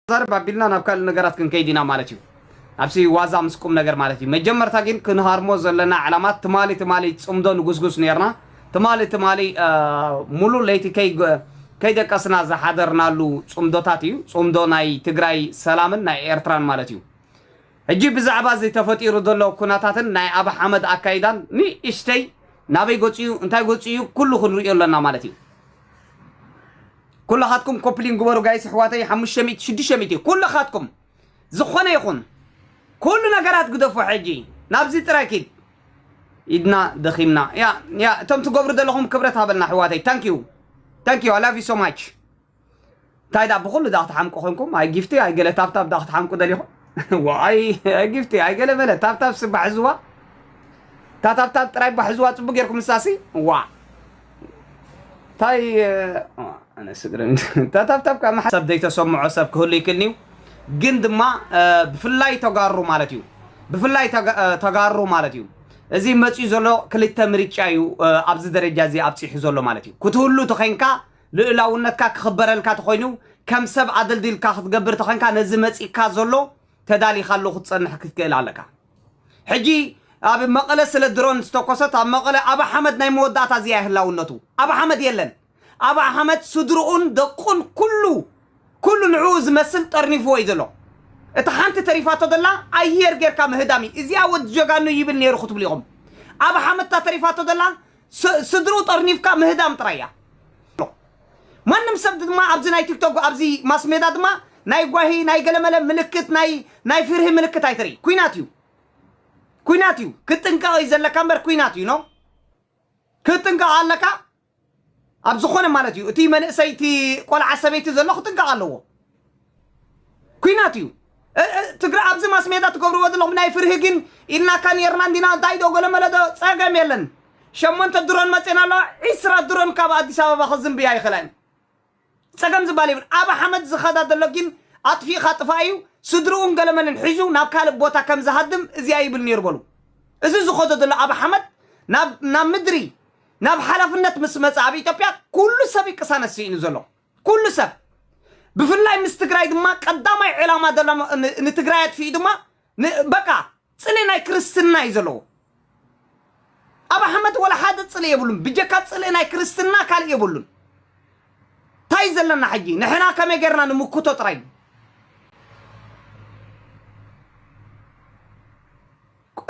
ክንዛረብ ኣቢልና ናብ ካልእ ነገራት ክንከይድ ኢና ማለት እዩ። ናብሲ ዋዛ ምስ ቁም ነገር ማለት እዩ። መጀመርታ ግን ክንሃርሞ ዘለና ዕላማ ትማሊ ትማሊ ጽምዶ ንጉስጉስ ነርና ትማሊ ትማሊ ሙሉእ ለይቲ ከይደቀስና ዝሓደርናሉ ጽምዶታት እዩ። ጽምዶ ናይ ትግራይ ሰላምን ናይ ኤርትራን ማለት እዩ። ሕጂ ብዛዕባ እዚ ተፈጢሩ ዘሎ ኩነታትን ናይ ኣብ ሓመድ ኣካይዳን ንእሽተይ ናበይ ገጹ እዩ እንታይ ገጹ እዩ ኩሉ ክንርእዮ ኣለና ማለት እዩ። ኩላኻትኩም ኮፕሊን ግበሩ ጋይስ ኣሕዋተይ ሓሙሽተ ሚእቲ ሽዱሽተ ሚእቲ ኩላኻትኩም ዝኾነ ይኹን ኩሉ ነገራት ግደፉ ሕጂ ናብዚ ጥራይ ኪድ ኢድና ደኺምና ያ ያ እቶም ትገብሩ ዘለኹም ክብረት ሃበልና ኣሕዋተይ ታንኪዩ ታንኪዩ ኣይ ላቭ ዩ ሶ ማች እንታይ ደኣ ብኩሉ ደኣ ክትሓምቁ ኮንኩም ኣይ ጊፍቲ ኣይ ገለ ታብታብ ደኣ ክትሓምቁ ደሊኹም ዋይ ኣይ ጊፍቲ ኣይ ገለ መለ ታብታብ ስባሕ ዝዋ እታ ታብታብ ጥራይ ባሕ ዝዋ ፅቡቅ ጌርኩም ንሳሲ ዋ እንታይ ኣነ ስግርም ታታብታብ ካብ ሓሳብ ዘይተሰምዖ ሰብ ክህሉ ይክእል እዩ ግን ድማ ብፍላይ ተጋሩ ማለት እዩ ብፍላይ ተጋሩ ማለት እዩ እዚ መፅኡ ዘሎ ክልተ ምርጫ እዩ ኣብዚ ደረጃ እዚ ኣብፂሑ ዘሎ ማለት እዩ ክትህሉ ተኸንካ ልእላውነትካ ክኽበረልካ ተኾይኑ ከም ሰብ ኣደልዲልካ ክትገብር ተኸንካ ነዚ መፂእካ ዘሎ ተዳሊኻሉ ክትፀንሕ ክትክእል ኣለካ ሕጂ ኣብ መቐለ ስለ ድሮን ዝተኮሰት ኣብ መቐለ ኣብ ኣሕመድ ናይ መወዳእታ እዚኣ ህላውነቱ ኣብ ኣሕመድ የለን ኣብ ኣሕመድ ስድርኡን ደቁን ኩሉ ኩሉ ንዕኡ ዝመስል ጠርኒፍዎ እዩ ዘሎ እቲ ሓንቲ ተሪፋቶ ዘላ ኣየር ጌርካ ምህዳም እዩ እዚኣ ወዲ ጀጋኑ ይብል ነይሩ ክትብሉ ኢኹም ኣብ ኣሕመድ እታ ተሪፋቶ ዘላ ስ ስድርኡ ጠርኒፍካ ምህዳም ጥራይ እያ። ማንም ሰብ ድማ ኣብዚ ናይ ቲክቶክ ኣብዚ ማስሜዳ ድማ ናይ ጓሂ ናይ ገለመለ ምልክት ናይ ናይ ፍርሂ ምልክት ኣይትርኢ ኩናት እዩ ኩናት እዩ ክትጥንቀቕ እዩ ዘለካ እምበር ኩናት እዩ ኖ ክትጥንቀቕ ኣለካ ኣብ ዝኾነ ማለት እዩ እቲ መንእሰይ እቲ ቆልዓ ሰበይቲ ዘሎ ክጥንቀቕ ኣለዎ ኩናት እዩ ትግራ ኣብዚ ማስሜዳ ትገብርዎ ዘለኹም ናይ ፍርሂ ግን ኢልናካ ነርና እንዲና እንታይ ዶ ገለመለ ዶ ፀገም የለን ሸሞንተ ድሮን መፅና ኣለዋ ዒስራ ድሮን ካብ ኣዲስ ኣበባ ክዝንብያ ይኽእላ እየን ፀገም ዝበሃል የብሉ ኣብ ሓመድ ዝኸዳ ዘሎ ግን ኣጥፊእኻ ጥፋእ እዩ ስድርኡን ገለመልን ሒዙ ናብ ካልእ ቦታ ከም ዝሃድም እዚኣ ይብል ነይሩ በሉ እዚ ዝኸዶ ዘሎ ኣብ ሓመድ ናብ ናብ ምድሪ ናብ ሓላፍነት ምስ መፀ ኣብ ኢትዮጵያ ኩሉ ሰብ ቅሳነት ስኢኑ ዘሎ ኩሉ ሰብ ብፍላይ ምስ ትግራይ ድማ ቀዳማይ ዕላማ ዘሎሞ ን ንትግራይ ኣጥፊኡ ድማ ን በቃ ጽልኢ ናይ ክርስትና እዩ ዘለዎ። ኣብ ኣሕመድ ወላ ሓደ ጽልኢ የብሉን ብጀካ ጽልኢ ናይ ክርስትና ካልእ የብሉን። ታይ ዘለና ሕጂ ንሕና ከመይ ጌርና ንምክቶ ጥራይ እዩ።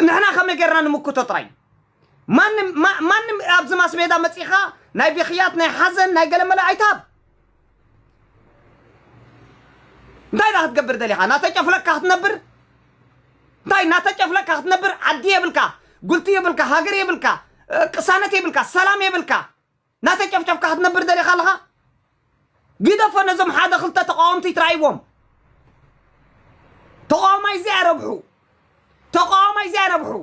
ንሕና ከመይ ጌርና ንምክቶ ጥራይ እዩ። ማንም ማ- ማንም ኣብዚ ማስሜዳ መጺኻ ናይ ብኽያት ናይ ሓዘን ናይ ገለመለ ኣይትሃብ እንታይ ዳ ክትገብር ደሊኻ ናተጨፍለቅካ ክትነብር እንታይ ናተጨፍለቅካ ክትነብር ዓዲ የብልካ ጉልቲ የብልካ ሃገር የብልካ እ፣ ቅሳነት የብልካ ሰላም የብልካ ናተጨፍጨፍካ ክትነብር ደሊኻ ኣለኻ ግደፎ ነዞም ሓደ ክልተ ተቃወምቲ ይትራእይዎም ተቃዋማይ እዚ ኣይረብሑ ተቃዋማይ እዚ ኣይረብሑ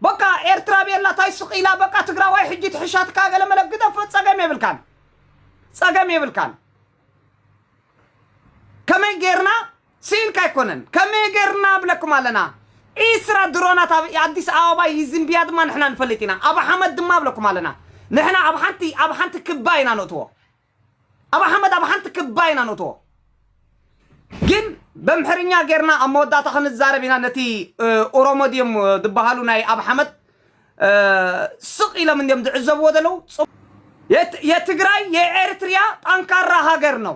በቃ ኤርትራ ቤላ ታይ ስቅ ኢላ በቃ ትግራዋይ ሕጂ ትሕሻትካ ገለመለ ግደፎ ፀገም የብልካን ፀገም የብልካን ከመይ ጌርና ስኢንካ ኣይኮነን ከመይ ገርና ንብለኩም ኣለና ዒስራ ድሮናት ኣብ ኣዲስ ኣበባ ይዝንብያ ድማ ንሕና ንፈልጥ ኢና ኣብ ሓመድ ድማ ንብለኩም ኣለና ንሕና ኣብ ሓንቲ ኣብ ሓንቲ ክባ ኢና ነእትዎ ኣብ ሓመድ ኣብ ሓንቲ ክባ ኢና ነእትዎ ግን በምሕርኛ ገርና ኣብ መወዳእታ ክንዛረብ ኢና ነቲ ኦሮሞ ድዮም ዝበሃሉ ናይ ኣብ ሓመድ ስቕ ኢሎም እንዲም ዝዕዘብዎ ዘለዉ የትግራይ የኤርትሪያ ጠንካራ ሃገር ነው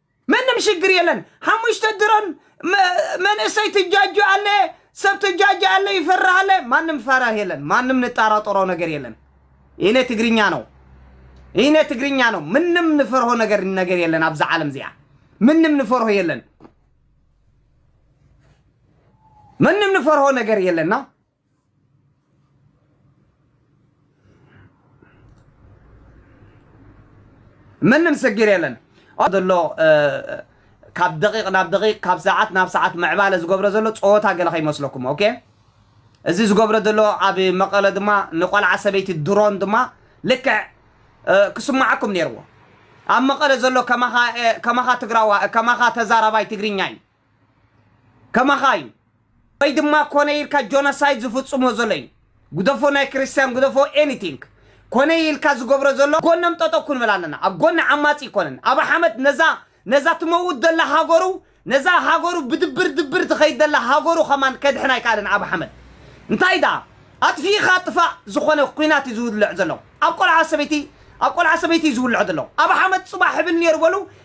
ምንም ሽግር የለን ሓሙሽተ ድሮን መ- መንእሰይ ትጃጁ ኣለ ሰብ ትጃጁ ኣለ ይፈርህ ኣለ ማንም ፈራህ የለን ማንም ንጣራጠሮ ነገር የለን ይነ ትግርኛ ነው ይነ ትግርኛ ነው ምንም ንፈርሆ ነገር ነገር የለን ኣብዚ ዓለም እዚኣ ምንም ንፈርሆ የለን ምንም ንፈርሆ ነገር የለና ምንም ስግር የለን ዘሎ ካብ ደቂቕ ናብ ደቂቕ ካብ ሰዓት ናብ ሰዓት ምዕባለ ዝገብሮ ዘሎ ፀወታ ገለ ከይመስለኩም ኦኬ እዚ ዝገብሮ ዘሎ ኣብ መቐለ ድማ ንቆልዓ ሰበይቲ ድሮን ድማ ልክዕ ክስማዓኩም ነይርዎ ኣብ መቐለ ዘሎ ከማኻ ትግራዋ ከማኻ ተዛራባይ ትግርኛ እዩ ከማኻ እዩ ወይ ድማ ኮነ ኢልካ ጆኖሳይድ ዝፍጽሞ ዘሎ እዩ ግደፎ ናይ ክርስትያን ግደፎ ኤኒቲንግ ኮነ ኢልካ ዝገብሮ ዘሎ ጎኖም ጠጠው ክንብል ኣለና ኣብ ጎኒ ዓማጺ ኣይኮነን ኣብ ሓመድ ነዛ ነዛ ትመውት ዘላ ሃገሩ ነዛ ሃገሩ ብድብር ድብር ትኸይድ ዘላ ሃገሩ ከማን ከድሕን ኣይከኣለን ኣብ ሓመድ እንታይ ደኣ ኣጥፊኢኻ ጥፋእ ዝኾነ ኩናት እዩ ዝውልዕ ዘሎ ኣብ ቆልዓ ሰበይቲ ኣብ ቆልዓ ሰበይቲ እዩ ዝውልዕ ዘሎ ኣብ ሓመድ ጽባሕ ይብል ነይሩ በሉ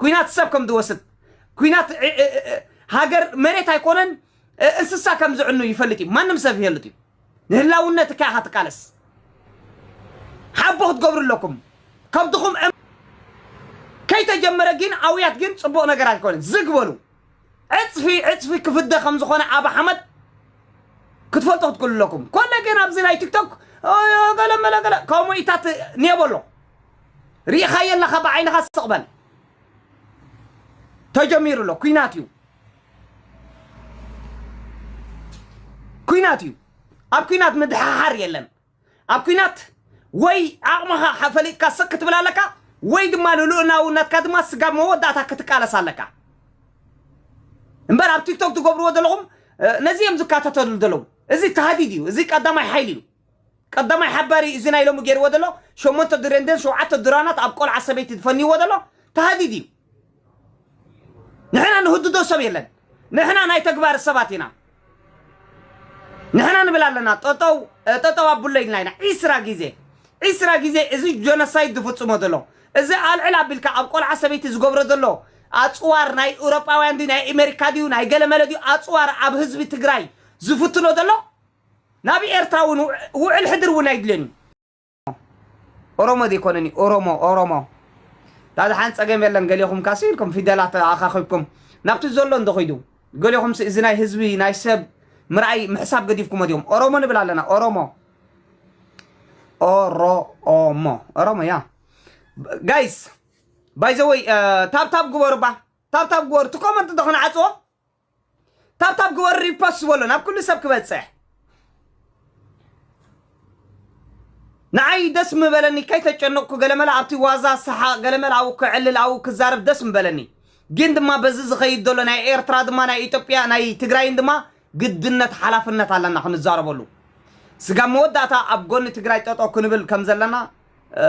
ኩናት ሰብ ከም ዝወስድ ኩናት ሃገር መሬት ኣይኮነን እንስሳ ከም ዝዕኑ ይፈልጥ እዩ ማንም ሰብ ይፈልጥ እዩ ንህላውነት እካ ኢኻ ትቃለስ ሓቦ ክትገብሩ ኣለኩም ከምትኹም ከይተጀመረ ግን ኣውያት ግን ፅቡቕ ነገር ኣይኮነን ዝግ በሉ ዕጽፊ ዕጽፊ ክፍደ ከም ዝኾነ ኣብ ሓመድ ክትፈልጦ ክትክእሉ ኣለኩም ኮነ ግን ኣብዚ ናይ ቲክቶክ ገለመለ ገለ ከምኡ ኢታት ኔበሎ ርኢኻዮ ኣለኻ ብዓይንኻ ስቕበል ተጀሚሩ ኣሎ ኩናት እዩ ኩናት እዩ ኣብ ኩናት ምድሓሓር የለን ኣብ ኩናት ወይ ዓቕምኻ ሓ ፈሊጥካ ስቅ ክትብል ኣለካ ወይ ድማ ንልኡላውነትካ ድማ ስጋብ መወዳእታ ክትቃለስ ኣለካ እምበር ኣብ ቲክቶክ ትገብርዎ ዘለኹም እ፣ ነዚ እዮም ዝከታተሉ ዘለዉ እዚ ተሃዲድ እዩ እዚ ቀዳማይ ሓይሊ እዩ ቀዳማይ ሓባሪ እዩ እዚ ናይ ሎሚ ገይርዎ ዘሎ ሸሞንተ ድሬንደን ሸውዓተ ድራናት ኣብ ቆልዓ ሰበይቲ ዝፈንይዎ ዘሎ ተሃዲድ እዩ ንሕና ንህድዶ ሰብ የለን ንሕና ናይ ተግባር ሰባት ኢና ንሕና ንብል ኣለና ጠጠው ጠጠው ኣቡለ ኢልና ኢና ዒስራ ግዜ ዒስራ ግዜ እዚ ጀኖሳይድ ዝፍፅሞ ዘሎ እዚ ኣልዕል ኣቢልካ ኣብ ቆልዓ ሰበይቲ ዝገብሮ ዘሎ ኣፅዋር ናይ ኤውሮጳውያን ድዩ ናይ ኣሜሪካ ድዩ ናይ ገለመለ ድዩ ኣፅዋር ኣብ ህዝቢ ትግራይ ዝፍትኖ ዘሎ ናብ ኤርትራ እውን ውዕል ሕድር እውን ኣይድልን እዩ ኦሮሞ ዘይኮነኒ ኦሮሞ ኦሮሞ ዳዚ ሓን ፀገም የለን ገሌኹም ካሲ ኢልኩም ፊደላት ኣኻኺብኩም ናብቲ ዘሎ እንዶ ኸይዱ ገሌኹም እዚ ናይ ህዝቢ ናይ ሰብ ምርኣይ ምሕሳብ ገዲፍኩሞ ዲኹም ኦሮሞ ንብል ኣለና ኦሮሞ ኦሮሞ ኦሮሞ ያ ጋይስ ባይዘወይ ታብታብ ግበሩባ ታብታብ ግበሩ እቲ ኮመንት ዶ ክንዓፅዎ ታብታብ ግበሩ ሪፖስት ዝበሎ ናብ ኩሉ ሰብ ክበፅሕ ንዓይ ደስ ምበለኒ ከይተጨነቕኩ ገለመለ ኣብቲ ዋዛ ሰሓቕ ገለመለ ኣብኡ ክዕልል ኣብኡ ክዛረብ ደስ ምበለኒ ግን ድማ በዚ ዝኸይድ ዘሎ ናይ ኤርትራ ድማ ናይ ኢትዮጵያ ናይ ትግራይን ድማ ግድነት ሓላፍነት ኣለና ክንዛረበሉ ስጋብ መወዳእታ ኣብ ጎኒ ትግራይ ጠጦ ክንብል ከም ዘለና እ፣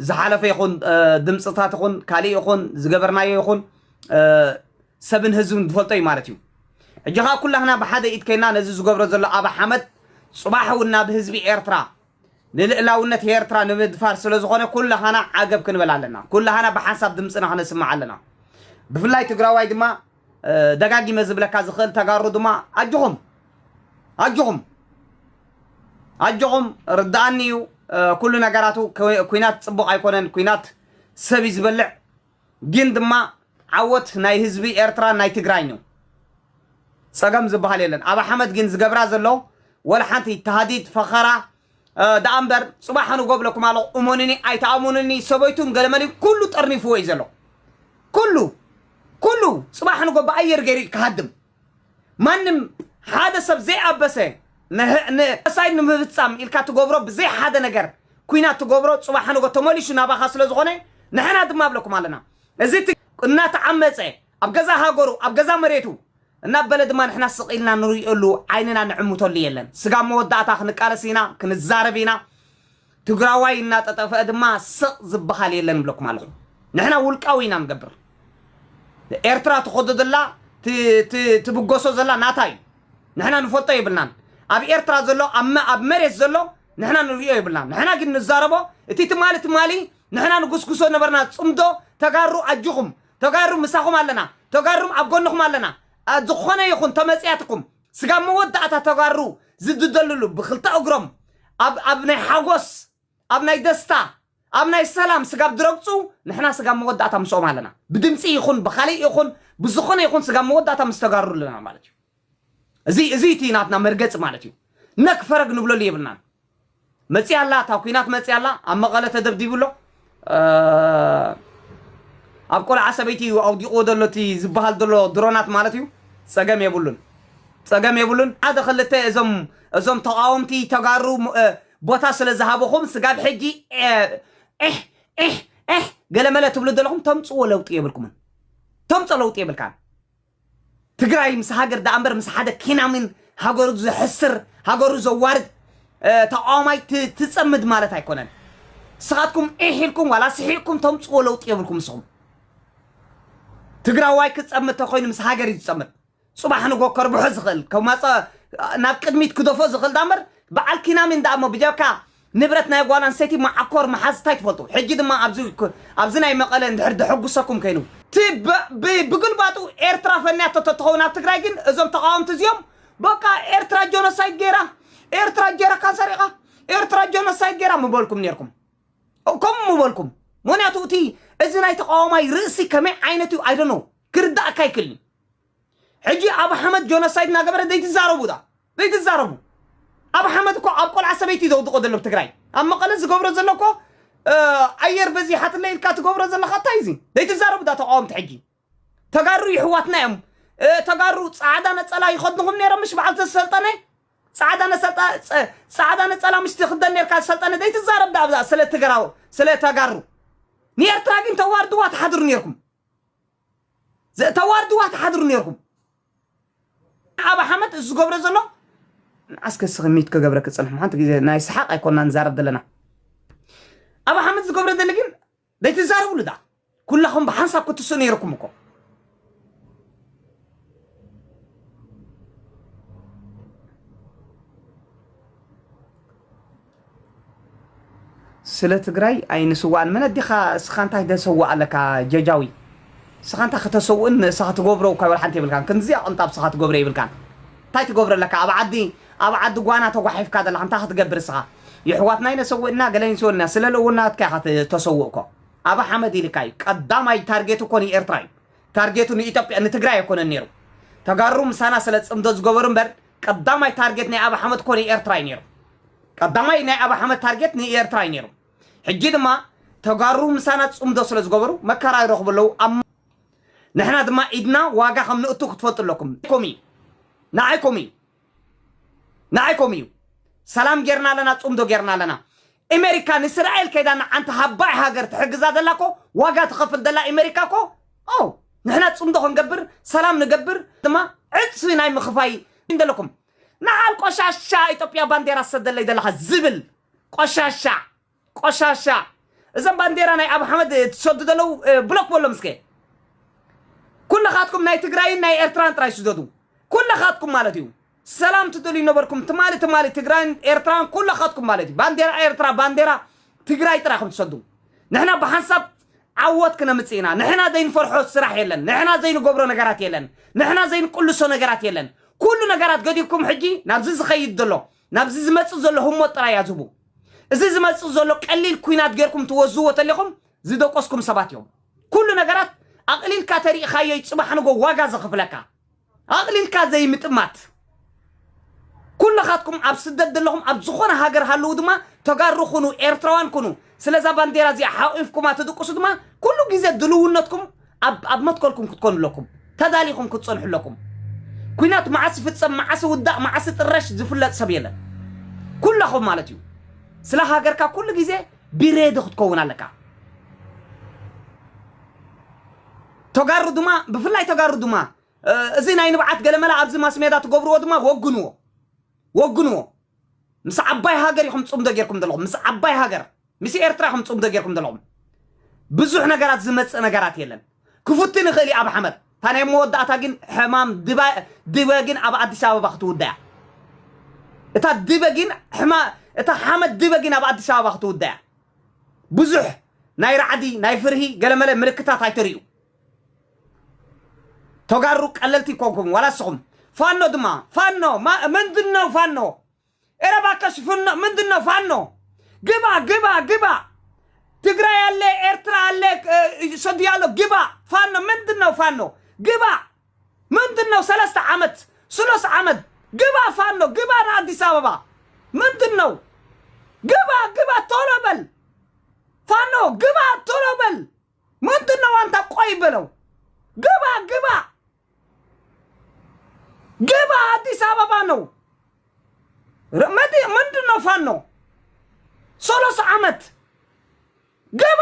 ዝሓለፈ ይኹን እ፣ ድምፅታት ይኹን ካሊእ ይኹን ዝገበርናዮ ይኹን ሰብን ህዝብን ዝፈልጦ እዩ ማለት እዩ ሕጂ ከኣ ኩላህና ብሓደ ኢድ ከይና ነዚ ዝገብሮ ዘሎ ኣበ ሓመድ ጽባሕ እውን ናብ ህዝቢ ኤርትራ ንልእላውነት ኤርትራ ንምድፋር ስለ ዝኾነ ኩላህና ዓገብ ክንበል ኣለና ኩላህና ብሓንሳብ ድምፅና ክነስምዕ ኣለና ብፍላይ ትግራዋይ ድማ ደጋጊመ ዝብለካ ዝኽእል ተጋሩ ድማ ኣጆኹም ኣጆኹም ኣጆኹም ርድኣኒ እዩ ኩሉ ነገራቱ ኩናት ፅቡቕ ኣይኮነን ኩናት ሰብ እዩ ዝበልዕ ግን ድማ ዓወት ናይ ህዝቢ ኤርትራን ናይ ትግራይን እዩ ጸገም ዝብሃል የለን ኣብ ኣሕመድ ግን ዝገብራ ዘሎ ወላ ሓንቲ ታህዲድ ፈኸራ ደኣ እምበር ጽባሕ ንጎ ብለኩም ኣለኹ እመኑኒ ኣይትኣምኑኒ ሰበይቱን ገለመልን ኩሉ ጠርኒፍዎ እዩ ዘሎ ኩሉ ኩሉ ጽባሕ ንጎ ብኣየር ገይሩ እዩ ክሃድም ማንም ሓደ ሰብ ዘይኣበሰ ንጆኖሳይድ ንምፍጻም ኢልካ ትገብሮ ብዘይ ሓደ ነገር ኩናት ትገብሮ ጽባሕ ንጎ ተመሊሱ ናባኻ ስለ ዝኾነ ንሕና ድማ ኣብለኩም ኣለና እዚ እናተዓመጸ ኣብ ገዛ ሃገሩ ኣብ ገዛ መሬቱ እናበለ ድማ ንሕና ስቕ ኢልና ንርእየሉ ዓይንና ንዕምተሉ የለን ስጋብ መወዳእታ ክንቃለስ ኢና ክንዛረብ ኢና ትግራዋይ እናጠጠፈ ድማ ስቕ ዝበሃል የለን እብለኩም ኣለኹ። ንሕና ውልቃዊ ኢና ንገብር። ኤርትራ ትኸዶ ዘላ ትብገሶ ዘላ ናታ እዩ። ንሕና ንፈልጦ የብልናን። ኣብ ኤርትራ ዘሎ ኣብ መሬት ዘሎ ንሕና ንሪኦ የብልና ንሕና ግን ንዛረቦ እቲ ትማሊ ትማሊ ንሕና ንጉስጉሶ ነበርና ፅምዶ ተጋሩ ኣጅኹም ተጋሩ ምሳኹም ኣለና ተጋሩም ኣብ ጎንኹም ኣለና ዝኾነ ይኹን ተመፅያትኩም ስጋብ መወዳእታ ተጋሩ ዝድደልሉ ብክልተ እግሮም ኣብ ኣብ ናይ ሓጎስ ኣብ ናይ ደስታ ኣብ ናይ ሰላም ስጋብ ድረግጹ ንሕና ስጋብ መወዳእታ ምስኦም ኣለና ብድምጺ ይኹን ብኻሊእ ይኹን ብዝኾነ ይኹን ስጋብ መወዳእታ ምስ ተጋሩ ኣለና ማለት እዩ እዚ እዚ እቲ ናትና መርገጺ ማለት እዩ ነክ ፈረግ ንብለሉ የብልናን መፂኣ ኣላ እታ ኩናት መፂኣ ኣላ ኣብ መቐለ ተደብዲቡ ኣሎ ኣብ ቆልዓ ሰበይቲ እዩ ኣውዲቕዎ ዘሎ እቲ ዝበሃል ዘሎ ድሮናት ማለት እዩ ፀገም የብሉን ፀገም የብሉን ሓደ ክልተ እዞም እዞም ተቃወምቲ ተጋሩ ቦታ ስለ ዝሃበኹም ስጋብ ሕጂ ዒሕ ዒሕ ዒሕ ገለመለ ትብሉ ዘለኹም ተምፅዎ ለውጢ የብልኩምን ተምፆ ለውጢ የብልካን ትግራይ ምስ ሃገር ደኣምበር ምስ ሓደ ኪናሚን ሃገሩ ዘሕስር ሃገሩ ዘዋርድ ተቃዋማይ ትጸምድ ማለት ኣይኮነን። ንስኻትኩም ዒሕ ኢልኩም ዋላ ስሒቕኩም ተምጽዎ ለውጢ የብልኩም ንስኹም። ትግራዋይ ክጸምድ ተኮይኑ ምስ ሃገር እዩ ዝጸምድ። ጽባሕ ንጎ ከርብሖ ዝኽእል ከማጸ ናብ ቅድሚት ክደፎ ዝኽእል ዳምበር በዓል ኪናሚን ደኣሞ ብጀካ ንብረት ናይ ጓል ኣንስተይቲ መዓኮር ምሓዝ ታይ ትፈልጡ ሕጂ ድማ ኣብዚ ኣብዚ ናይ መቀለ እንድሕር ደሐጉሰኩም ከይኑ። እቲ ብግልባጡ ኤርትራ ፈንያቶ ተትኸውን ኣብ ትግራይ ግን እዞም ተቓወምቲ እዚኦም በቃ ኤርትራ ጆኖሳይድ ጌራ ኤርትራ ጀረካን ሰሪቓ ኤርትራ ጆኖሳይድ ጌራ ምበልኩም ኔርኩም ከምኡ ምበልኩም ምክንያቱ እቲ እዚ ናይ ተቓዋማይ ርእሲ ከመይ ዓይነት እዩ ኣይዶኖ ክርዳእካ ኣይክእልን ሕጂ ኣብ ሓመድ ጆኖሳይድ እናገበረ ዘይትዛረቡ ዳ ዘይትዛረቡ ኣብ ሓመድ እኮ ኣብ ቆልዓ ሰበይቲ እዩ ዘውድቆ ዘሎ ትግራይ ኣብ መቐለ ዝገብሮ ዘሎ እኮ ኣየር በዚሓትለ ኢልካ ትገብሮ ዘለካ እንታይ እዚ ዘይትዛረቡ ዳ ተቃወምቲ ሕጂ ተጋሩ ይሕዋትና እዮም ተጋሩ ፃዕዳ ነፀላ ይኸድንኹም ነይሮም ምሽ በዓል ተሰልጠነ ፃዕዳ ነሰልጣ ፃዕዳ ነፀላ ምሽ ትኽደን ነርካ ሰልጠነ ዘይትዛረብ ዳ ኣብዛ ስለ ትግራው ስለ ተጋሩ ንኤርትራ ግን ተዋርድዋ ትሓድሩ ነርኩም ዘተዋርድዋ ትሓድሩ ኔርኩም ኣብ ኣሕመድ እዚ ዝገብሮ ዘሎ ንዓስ ከስኺ ሚት ከገብረ ክጽንሕ ሓንቲ ግዜ ናይ ሰሓቅ ኣይኮና ንዛረብ ዘለና ኣብ ኣሕመድ ዝገብረ ዘሎ ግን ዘይትዛረብሉ ዳ ኩላኹም ብሓንሳብ ክትስኡ ነይርኩም እኮ ስለ ትግራይ ኣይንስዋእን መን ኣዴካ እስካ እንታይ ደሰዋእ ኣለካ ጀጃዊ እስካ እንታይ ከተሰውእን ንእስካ ትገብሮ እኳ ወልሓንቲ የብልካን ክንድዚ ኣቅንጣብ እስካ ትገብሮ የብልካን እንታይ ትገብሮ ኣለካ ኣብ ዓዲ ኣብ ዓዲ ጓና ተጓሒፍካ ዘለካ እንታይ ክትገብር እስካ የሕዋትና ኢነ ሰዊእና ገለ ይንስወልና ስለ ለውናትካ ኢካ ተሰውእ እኮ ኣበ ሓመድ ኢልካ እዩ ቀዳማይ ታርጌቱ እኮ ንኤርትራ እዩ ታርጌቱ ንኢትዮጵያ ንትግራይ ኣይኮነን ነይሩ ተጋሩ ምሳና ስለ ፅምዶ ዝገበሩ እምበር ቀዳማይ ታርጌት ናይ ኣቢ ሓመድ እኮ ንኤርትራ እዩ ነይሩ ቀዳማይ ናይ ኣቢ ሓመድ ታርጌት ንኤርትራ እዩ ነይሩ ሕጂ ድማ ተጋሩ ምሳና ጽምዶ ስለ ዝገበሩ መከራ ይረኽቡ ኣለዉ ኣብ ንሕና ድማ ኢድና ዋጋ ከም ንእቱ ክትፈልጡ ኣለኩም ኮም እዩ ንዓይ ኮም እዩ ንዓይ ኮም እዩ ሰላም ጌርና ኣለና ጽምዶ ጌርና ኣለና ኤመሪካ ንስራኤል ከይዳ ንዓንቲ ሃባዒ ሃገር ትሕግዛ ዘላ እኮ ዋጋ ትኸፍል ዘላ ኤመሪካ እኮ ኦው ንሕና ጽምዶ ክንገብር ሰላም ንገብር ድማ ዕጽፊ ናይ ምኽፋይ እንደለኩም ንዓል ቆሻሻ ኢትዮጵያ ባንዴራ ሰደለይ ዘለኻ ዝብል ቆሻሻ ቆሻሻ እዘን ባንዴራ ናይ ኣብ ሓመድ ትሰዱ ዘለው ብሎክ በሎም እስከ ኩልኻትኩም ናይ ትግራይን ናይ ኤርትራን ጥራይ ስደዱ ኩልኻትኩም ማለት እዩ ሰላም ትደልዩ ነበርኩም ትማሊ ትማሊ ትግራይን ኤርትራን ኩላኻትኩም ማለት እዩ ባንዴራ ኤርትራ ባንዴራ ትግራይ ጥራይ ኢኹም ትሰዱ ንሕና ብሓንሳብ ዓወት ክነምፅእ ኢና ንሕና ዘይንፈርሖ ስራሕ የለን ንሕና ዘይንገብሮ ነገራት የለን ንሕና ዘይንቅልሶ ነገራት የለን ኩሉ ነገራት ገዲፍኩም ሕጂ ናብዚ ዝኸይድ ዘሎ ናብዚ ዝመፅእ ዘሎ ህሞት ጥራይ ያዝቡ እዚ ዝመፅእ ዘሎ ቀሊል ኩናት ጌርኩም ትወዝዎ ተሊኹም ዝደቆስኩም ሰባት እዮም ኩሉ ነገራት ኣቕሊልካ ተሪእኻዮ እዩ ፅባሕ ንጎ ዋጋ ዘኽፍለካ ኣቕሊልካ ዘይምጥማት ኩልኻትኩም ኣብ ስደት ዘለኹም ኣብ ዝኾነ ሃገር ሃለዉ ድማ ተጋሩ ኩኑ ኤርትራውያን ኩኑ ስለዛ ባንዴራ እዚኣ ሓቚፍኩማ ትድቅሱ ድማ ኩሉ ግዜ ድልውነትኩም ኣብ መትከልኩም ክትኮኑ ኣለኩም ተዳሊኹም ክትጸንሑ ኣለኩም ኩናት መዓስ ይፍጸም መዓስ ይውዳእ መዓስ ይጥረሽ ዝፍለጥ ሰብ የለን ኩላኹም ማለት እዩ ስለ ሃገርካ ኩሉ ግዜ ቢሬዲ ክትከውን ኣለካ ተጋሩ ድማ ብፍላይ ተጋሩ ድማ እዚ ናይ ንብዓት ገለመላ ኣብዚ ማስሜዳ ትገብርዎ ድማ ወግንዎ ወግንዎ ምስ ዓባይ ሃገር ኢኹም ፅምዶ ጌርኩም ዘለኹም ምስ ዓባይ ሃገር ምስ ኤርትራ ኢኹም ፅምዶ ጌርኩም ዘለኹም ብዙሕ ነገራት ዝመፅእ ነገራት የለን ክፉትን ይኽእል እዩ ኣብ ሓመድ እታ ናይ መወዳእታ ግን ሕማም ድበ ግን ኣብ ኣዲስ ኣበባ ክትውዳ እያ እታ ድበ ግን ሕማ እታ ሓመድ ድበ ግን ኣብ ኣዲስ ኣበባ ክትውዳ እያ ብዙሕ ናይ ራዕዲ ናይ ፍርሂ ገለመለ ምልክታት ኣይተርእዩ ተጋሩ ቀለልቲ ኮንኩም ዋላ ንስኹም ፋኖ ድማ ፋኖ ምንድን ነው ፋኖ ኧረ እባክሽ ፍኖ ምንድን ነው ፋኖ ግባ ግባ ግባ ትግራይ አለ ኤርትራ አለ እ፣ ሰዲያ አለ ግባ ፋኖ ምንድን ነው ፋኖ ግባ ምንድነው ሰለስተ ዓመት ስሎስ ዓመት ግባ ፋኖ ግባ ንኣዲስ ኣበባ ምንድነው ግባ ግባ ቶሎ በል ፋኖ ግባ ቶሎ በል ምንድነው ኣንታ ቆይ በለው ግባ ግባ ግባ ኣዲስ ኣበባ ነው ረ- መዲ- ምንድነው ፋኖ ሶሎስ ዓመት ግባ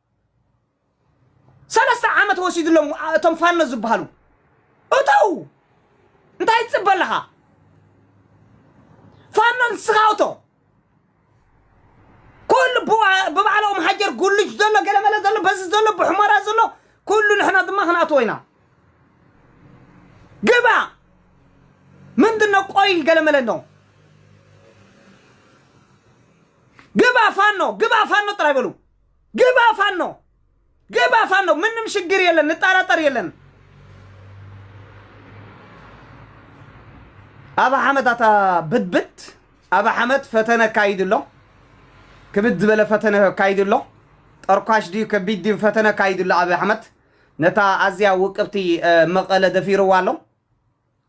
ሰለስተ ዓመት ወሲድሎም ኣ- እቶም ፋኖ ዝበሃሉ እተው እንታይ ትፅበ ኣለኻ ፋኖ ንስኻ እቶ ኩሉ ብባ- ብባዕሎም ሃጀር ጉልጅ ዘሎ ገለመለ ዘሎ በዚ ዘሎ ብሕሞራ ዘሎ ኩሉ ንሕና ድማ ክንኣትዎ ኢና ግባ ምንድን ነው ቆይ ገለመለ ነው ግባ ፋኖ ግባ ፋኖ ጥራይ በሉ ግባ ፋኖ ግባ ፋኖ ምንም ሽግር የለን ንጠራጠር የለን ኣብ ሓመት ኣታ ብድብድ ኣብ ሓመት ፈተነ ካይድ ኣሎ ክብድ ዝበለ ፈተነ ካይድ ኣሎ ጠርኳሽ ድዩ ከቢድ ድዩ ፈተነ ካይድ ኣሎ ኣብ ሓመት ነታ ኣዝያ ውቅብቲ እ፣ መቐለ ደፊርዋ ኣሎ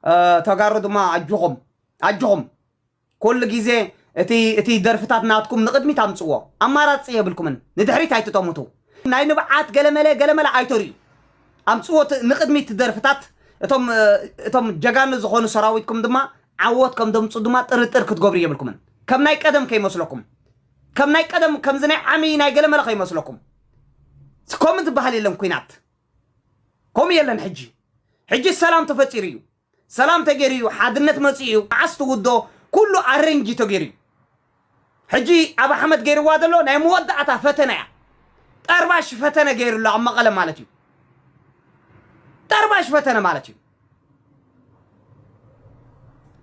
እ፣ ተጋሩ ድማ ኣጆኹም ኣጆኹም ኩሉ ግዜ እቲ እቲ ደርፍታት ናትኩም ንቕድሚት ኣምጽዎ ኣማራጺ የብልኩምን ንድሕሪት ኣይትጠሙቱ ናይ ንብዓት ገለመለ ገለመለ ኣይተርእዩ ኣምጽዎ ንቕድሚት እቲ ደርፍታት እቶም እቶም ጀጋኑ ዝኾኑ ሰራዊትኩም ድማ ዓወት ከም ደምጹ ድማ ጥርጥር ክትገብሩ የብልኩምን ከም ናይ ቀደም ከይመስለኩም ከም ናይ ቀደም ከምዚ ናይ ዓሚ ናይ ገለመለ ከይመስለኩም ከምኡ ዝበሃል የለን ኩናት ከምኡ የለን ሕጂ ሕጂ ሰላም ተፈጢሩ እዩ ሰላም ተገይሩ እዩ ሓድነት መፂኡ እዩ መዓስ ትውድኦ ኩሉ ኣረንጅ እዩ ተገይሩ እዩ ሕጂ ኣብ ኣሕመድ ገይርዋ ዘሎ ናይ መወዳእታ ፈተነ እያ ጠርባሽ ፈተነ ገይሩ ኣሎ ኣብ መቐለ ማለት እዩ ጠርባሽ ፈተነ ማለት እዩ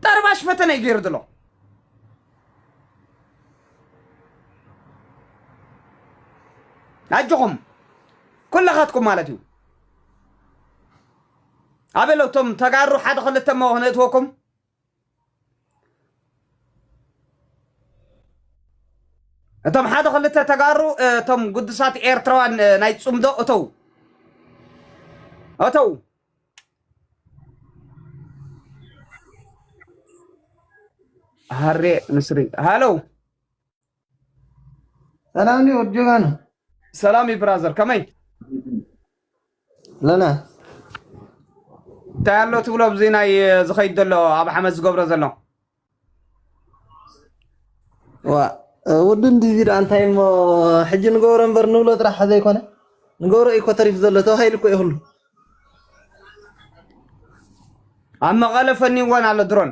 ጠርባሽ ፈተነ እዩ ገይሩ ዘሎ ኣጆኹም ኩላኻትኩም ማለት እዩ ኣበሎ እቶም ተጋሩ ሓደ ክልተ እሞ ክነእትወኩም እቶም ሓደ ክልተ ተጋሩ እቶም ግዱሳት ኤርትራውያን ናይ ፅምዶ እተው እተው ሃሬ ንስሪ ሃለው ሰላም ኒ ወድ ጀጋኑ ሰላም እዩ ብራዘር ከመይ ለና እንታይ ኣሎ ትብሎ ኣብዚ ናይ ዝኸይድ ዘሎ ኣብ ሓመድ ዝገብሮ ዘሎ ዋ ወዲ እንድዚ ዶ እንታይ እሞ ሕጂ ንገብሮ እምበር ንብሎ ጥራሕ ዘይኮነ ንገብሮ እዩ እኮ ተሪፉ ዘሎ ተባሂሉ እኮ ይኽሉ ኣብ መቐለ ፈኒዎን ኣሎ ድሮን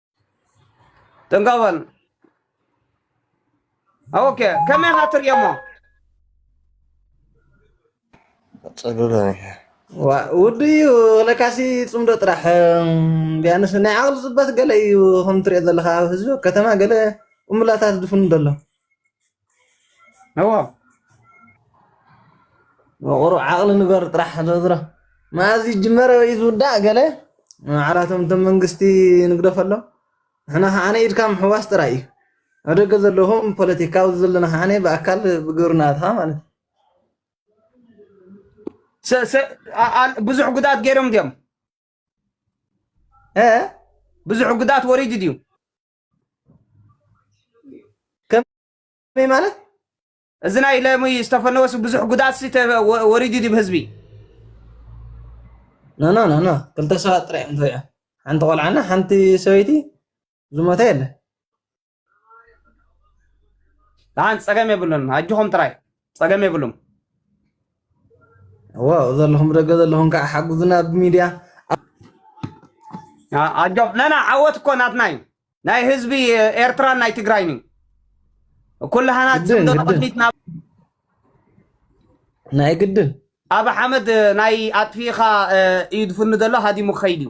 ጥንቀበል ኦኬ ከመይ ካ ትርእየሞ ፅሉለ ውዱ እዩ ለካሲ ፅምዶ ጥራሕ ቢያንስ ናይ ዓቕሊ ፅበት ገለ እዩ ከም ትሪኦ ዘለካ ህዝቢ ከተማ ገለ እምላታት ዝፍኑ ደሎ እዎ መቑሩ ዓቕሊ ንበር ጥራሕ ዝሮ መኣዝ ይጅመረ ወይ ዝውዳእ ገለ ዓላቶም እቶም መንግስቲ ንግደፈሎም ንሕና ከዓነ ኢድካ ምሕዋስ ጥራይ እዩ ኣብ ደገ ዘለኹም ፖለቲካ ኣብዚ ዘለና ከዓነ ብኣካል ብግብርና ትኻ ማለት እዩ ሰ- ሰ- ኣ- ኣ- ብዙሕ ጉድኣት ገይሮም ድዮም እ ብዙሕ ጉድኣት ወሪዱ ድዩ ከመይ ማለት እዚ ናይ ለሚ ዝተፈነወስ ብዙሕ ጉድኣት ሲ ተ- ወ- ወሪዱ ድዩ ብህዝቢ ኖ ኖ ኖ ኖ ክልተ ሰባት ጥራይ እዮም ተወቂዖም ሓንቲ ቆልዓና ሓንቲ ሰበይቲ ዝሞተ የለን ደሓን ፀገም የብሉን ኣጆኹም ጥራይ ጸገም የብሉም እዎ ዘለኹም ደገ ዘለኹም ከዓ ሓጉዝና ኣብ ሚድያ ኣ- ኣጆም ነና ዓወት እኮ ናትና እዩ ናይ ህዝቢ ኤርትራን ናይ ትግራይን እዩ ኩላህና ግድን ፅምዶ ግድን ንቕድሚት ናብ ናይ ግድን ኣብ ሓመድ ናይ ኣጥፊእኻ እ፣ እዩ ዝፍኑ ዘሎ ሃዲሙ ክኸይድ እዩ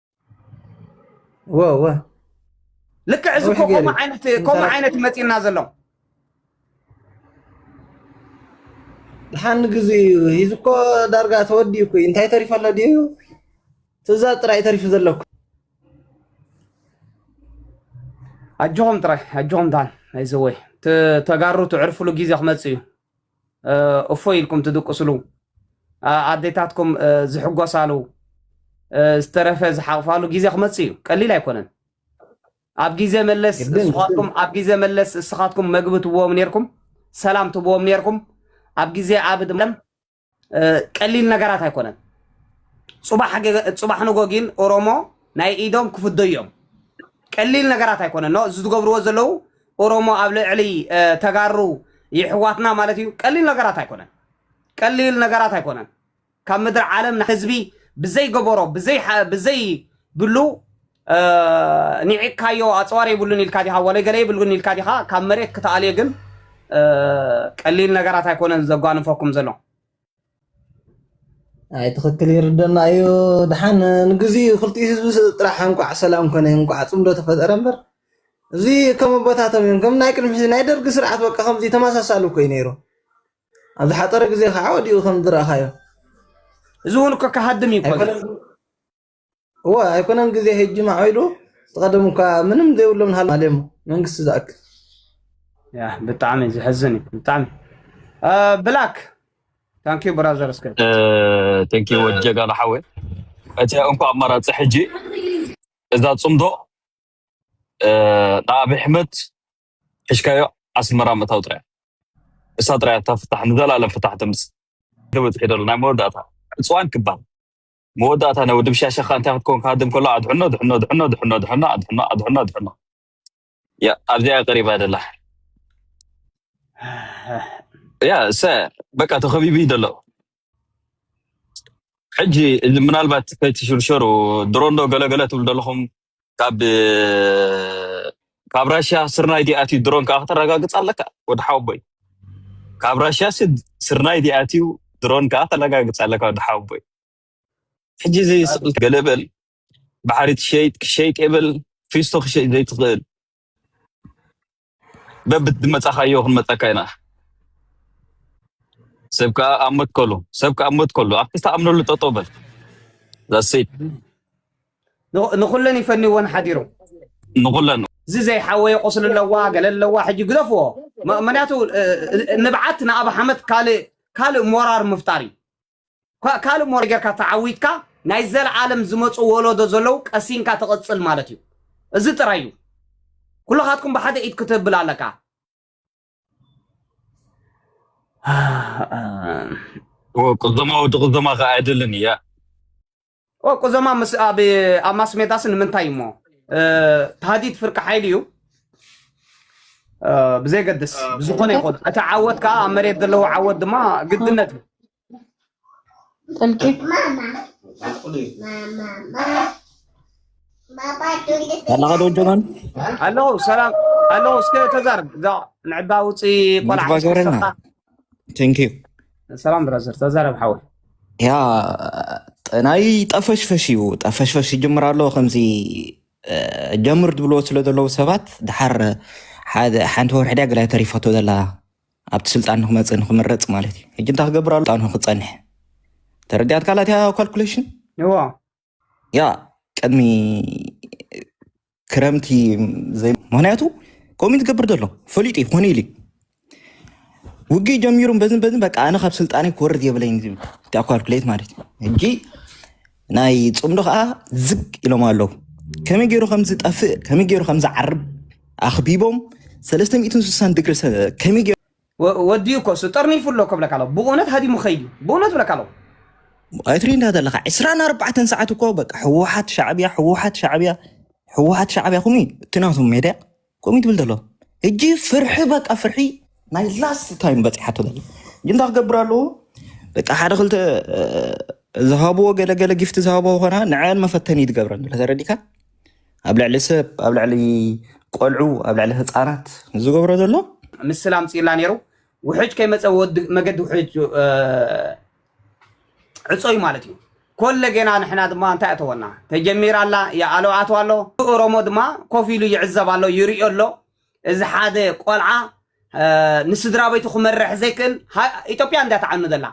ልክዕ እዚ ከምኡ ዓይነት መፂና ዘሎ ሓን ግዜ እዩ እዚ እኮ ዳርጋ ተወዲኡ እኮ እንታይ ተሪፎ ኣሎ ድዩ ትእዛዝ ጥራይ ተሪፉ ዘለኩ ኣጆኹም ጥራይ ኣጆኹም ዳን ኣይዘወይ ተጋሩ ትዕርፍሉ ግዜ ክመፅእ እዩ እፎይ ኢልኩም ትድቅስሉ ኣዴታትኩም ዝሕጎሳሉ ዝተረፈ ዝሓቕፋሉ ግዜ ክመፅእ እዩ ቀሊል ኣይኮነን ኣብ ግዜ መለስ እስኻትኩም ኣብ ግዜ መለስ እስኻትኩም መግቢ ትብዎም ነርኩም ሰላም ትብዎም ነርኩም ኣብ ግዜ ኣብ ድለም ቀሊል ነገራት ኣይኮነን። ፅባሕ ንጎ ግን ኦሮሞ ናይ ኢዶም ክፍደዮም ቀሊል ነገራት ኣይኮነን። ኖ እዚ ዝገብርዎ ዘለዉ ኦሮሞ ኣብ ልዕሊ ተጋሩ ይሕዋትና ማለት እዩ። ቀሊል ነገራት ኣይኮነን። ቀሊል ነገራት ኣይኮነን። ካብ ምድሪ ዓለም ንህዝቢ ብዘይገበሮ ብዘይ ብሉ እ ኒዒቅካዮ ኣጽዋር የብሉን ኢልካ ዲኻ ወለ ገለ የብሉን ኢልካ ዲኻ ካብ መሬት ክትኣልዮ ግን እ ቀሊል ነገራት ኣይኮነን ዘጓንፈኩም ዘሎ ኣይ ትኽክል ይርደና እዩ ድሓን ንግዚኡ ክልቲኡ ህዝቢ ስ- ጥራሕ እንኳዕ ሰላም ኮነ እንኳዕ ፅምዶ ተፈጠረ እምበር እዚ ከም ኣቦታቶም እዮም ከም ናይ ቅድሚ ሕዚ ናይ ደርጊ ስርዓት በቃ ከምዚ ተመሳሳሊ እኮ እዩ ነይሩ ኣብ ዝሓፀረ ግዜ ከዓ ወዲኡ ከም ዝረእኻዮ እዚ እውን እኮ ክሃድም እዩ እኮ እዚ። ኣይኮነን እወ ኣይኮነን ግዜ ሄጂ ማዕቢሉ ዝቀደም እኳ ምንም ዘይብሎም ንሃሉ ሃልዮም መንግስቲ ዝኣክል ያ ብጣዕሚ ዝሕዝን እዩ ብጣዕሚ ብላክ ታንኪ ብራዘር እስከ ተንኪ ወድ ጀጋና ሓወ እቲ እንኳ ኣማራፂ ሕጂ እዛ ፅምዶ ንኣብይ ኣሕመድ ሕሽካዮ ኣስመራ ምእታው ጥራያ እሳ ጥራያ እታ ፍታሕ ንዘላለም ፍታሕ ተምፅእ ተበፅሒ ደሎ ናይ መወዳእታ ዕፅዋን ክባል መወዳእታ ናይ ወዲ ብሻሻኻ እንታይ ክትከውን ክሃድም ከሎ ኣድሕኖ ድሕኖ ድሕኖ ድሕኖ ድሕኖ ኣድሕኖ ኣድሕኖ ኣድሕኖ ያ ኣብዚኣ ቀሪባ ደላ ያ ሰ በቃ ተኸቢቡ እዩ ዘሎ ሕጂ እዚ ምናልባት ከይትሽርሸሩ ድሮ እንዶ ገለገለ ትብሉ ዘለኹም ካብ ካብ ራሽያ ስርናይ ዲኣትዩ ድሮን ከዓ ከተረጋግፅ ኣለካ ወዲ ሓወቦይ ካብ ራሽያ ሲ ስርናይ ዲኣትዩ ድሮን ከዓ ተረጋግፅ ኣለካ ወዲ ሓወቦይ ሕጂ እዚ ስቕልቲ ገለ በል ባሕሪ ትሸይጥ ክሸይጥ የብል ፊስቶ ክሸይጥ ዘይትኽእል በብትመጻኻዮ ክንመጸካ ኢና ሰብ ከዓ ኣብ ሞት ከሉ ሰብ ከዓ ኣብ ሞት ከሉ ኣብቲ ዝተኣምነሉ ጠጠው በል ዛሴት ንኹ- ንኹለን ይፈንይወን ሓዲሮም ንኹለን እዚ ዘይሓወየ ቁስሊ ኣለዋ ገለ ኣለዋ ሕጂ ግደፍዎ ም- ምክንያቱ እ- እ- ንብዓት ንኣብ ሓመት ካልእ ካልእ ሞራር ምፍጣር እዩ ካልእ ሞራል ጌርካ ተዓዊትካ ናይ ዘለኣለም ዝመጹ ወለዶ ዘለዉ ቀሲንካ ትቕጽል ማለት እዩ። እዚ ጥራይ እዩ። ኩልኻትኩም ብሓደ ኢድ ክትብል ኣለካ። ቅዘማ ወዲ ቅዘማ ከ ኣይደልን እያ ኦቁ ዘማ ምስ ኣብ ኣብ ማስሜዳስ ንምንታይ እሞ ታህዲድ ፍርቂ ሓይሊ እዩ ብዘይገድስ ብዝኾነ ይኹን እቲ ዓወት ከዓ ኣብ መሬት ዘለዎ ዓወት ድማ ግድነት እዩ ጥልቂት ኣለኻ ዶ ጀማን ኣለዉ ሰላም ኣለዉ እስከ ተዛርብ እዛ ንዕባ ውፅኢ ቆልዓ ንፋስ ወረና ቴንኪዩ ሰላም ብራዘር ተዛረብ ሓወይ ያ ናይ ጠፈሽፈሽ እዩ ጠፈሽፈሽ ይጅምር ኣሎ ከምዚ እ፣ ጀምር ዝብልዎ ስለ ዘለዉ ሰባት ድሓር ሓደ ሓንቲ ወርሒ ድያ ገላይ ተሪፈቶ ዘላ ኣብቲ ስልጣን ንክመፅእ ንክምረፅ ማለት እዩ ሕጂ እንታይ ክገብር ኣሎ ስልጣኑ ክፀንሕ ተረዲኣት ካላትያ ካልኩሌሽን እዎ ያ ቅድሚ ክረምቲ ዘይ ምክንያቱ ከምኡ ትገብር ዘሎ ፈሊጡ እዩ ኮነ ኢሉ ውግእ ጀሚሩ በዝን በዝን በቃ ኣነ ካብ ስልጣነ ክወርድ የብለይን ዝብል ካልኩሌት ማለት እዩ ሕጂ ናይ ፅምዶ ከዓ ዝግ ኢሎም ኣለዉ ከመይ ገይሩ ከም ዝጠፍእ ከመይ ገይሩ ከም ዝዓርብ ኣኽቢቦም 360 ድግሪ ከመይ ገይሩ ወዲኡ እኮ እሱ ጠርኒፉ ኣሎ እኮ እብለካ ኣለኩ ብእውነት ሃዲሙ ክከይድ እዩ ብእውነት እብለካ ኣለኩ። ኣይትሪእንዳ ዘለካ ዕስራን ኣርባዕተን ሰዓት እኮ በቃ ህወሓት ሻዕብያ ህወሓት ሻዕብያ ህወሓት ሻዕብያ ከምኡ እዩ እቲ ናቶም ሜድያ ከምኡ ትብል ዘሎ እጂ ፍርሒ በቃ ፍርሒ ናይ ላስት ታይም በፂሓቶ ዘሎ እጂ እንታይ ክገብር ኣለዎ በቃ ሓደ ክልተ እ፣ ዝሃብዎ ገለገለ ጊፍቲ ዝሃብዎ ኮና ንዐን መፈተኒ ትገብረን ዘሎ ተረዲካ ኣብ ልዕሊ ሰብ ኣብ ልዕሊ ቆልዑ ኣብ ልዕሊ ህፃናት ዝገብሮ ዘሎ ምስላ ኣምፅእላ ነይሩ ውሕጅ ከይመፀ መገዲ ውሕጅ ዕፀዩ ማለት እዩ ኮለ ገና ንሕና ድማ እንታይ ኣተወና ተጀሚራ ኣላ ይኣሎ ኣተው ኣሎ ኦሮሞ ድማ ኮፍ ኢሉ ይዕዘብ ኣሎ ይርዮ ኣሎ እዚ ሓደ ቆልዓ ንስድራ ቤቱ ክመርሕ ዘይክእል ኢትዮጵያ እንዳተዓኑ ዘላ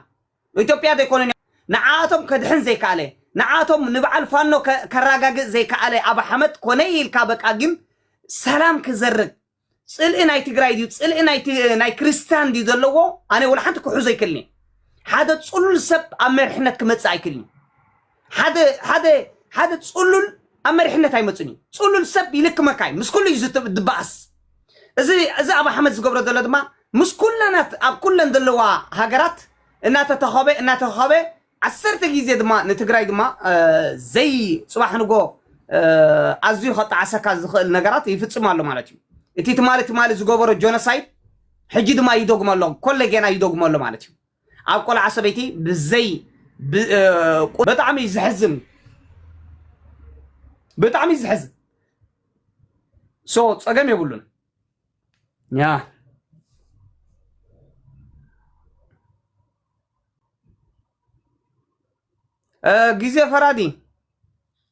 ኢትዮጵያ ዘይኮነን ንዓኣቶም ከድሕን ዘይካኣለ ንዓኣቶም ንባዓል ፋኖ ከራጋግእ ዘይካኣለ ኣብ ሓመት ኮነ ኢልካ በቃ ግን ሰላም ክዘርግ ጽልኢ ናይ ትግራይ ድዩ ጽልኢ ናይ ክርስታን ድዩ ዘለዎ ኣነ ወላሓንቲ ክሑዞ ኣይክልንየ ሓደ ጽሉል ሰብ ኣብ መርሕነት ክመጽእ ኣይክልንዩ ሓደ ሓደ ሓደ ጽሉል ኣብ መሪሕነት ኣይመጽን እዩ ጽሉል ሰብ ይልክመካ እዩ ምስ ኩሉ እዩ ዝት- ዝበኣስ እዚ እዚ ኣብ ኣሕመድ ዝገብሮ ዘሎ ድማ ምስ ኩለናት ኣብ ኩለን ዘለዋ ሃገራት እናተተኸበ እናተኸበ ዓሰርተ ግዜ ድማ ንትግራይ ድማ እ፣ ዘይ ፅባሕ ንጎ እ፣ ኣዝዩ ከጣዓሰካ ዝኽእል ነገራት ይፍፅም ኣሎ ማለት እዩ እቲ ትማሊ ትማሊ ዝገበሮ ጆኖሳይድ ሕጂ ድማ ይደግሞ ኣሎ ኮለጌና ይደግሞ ኣሎ ማለት እዩ ኣብ ቆልዓ ሰበይቲ ብዘይ ብጣዕሚ ዝሕዝን ብጣዕሚ ዝሕዝን ሶ ፀገም የብሉን ያ ግዜ ፈራዲ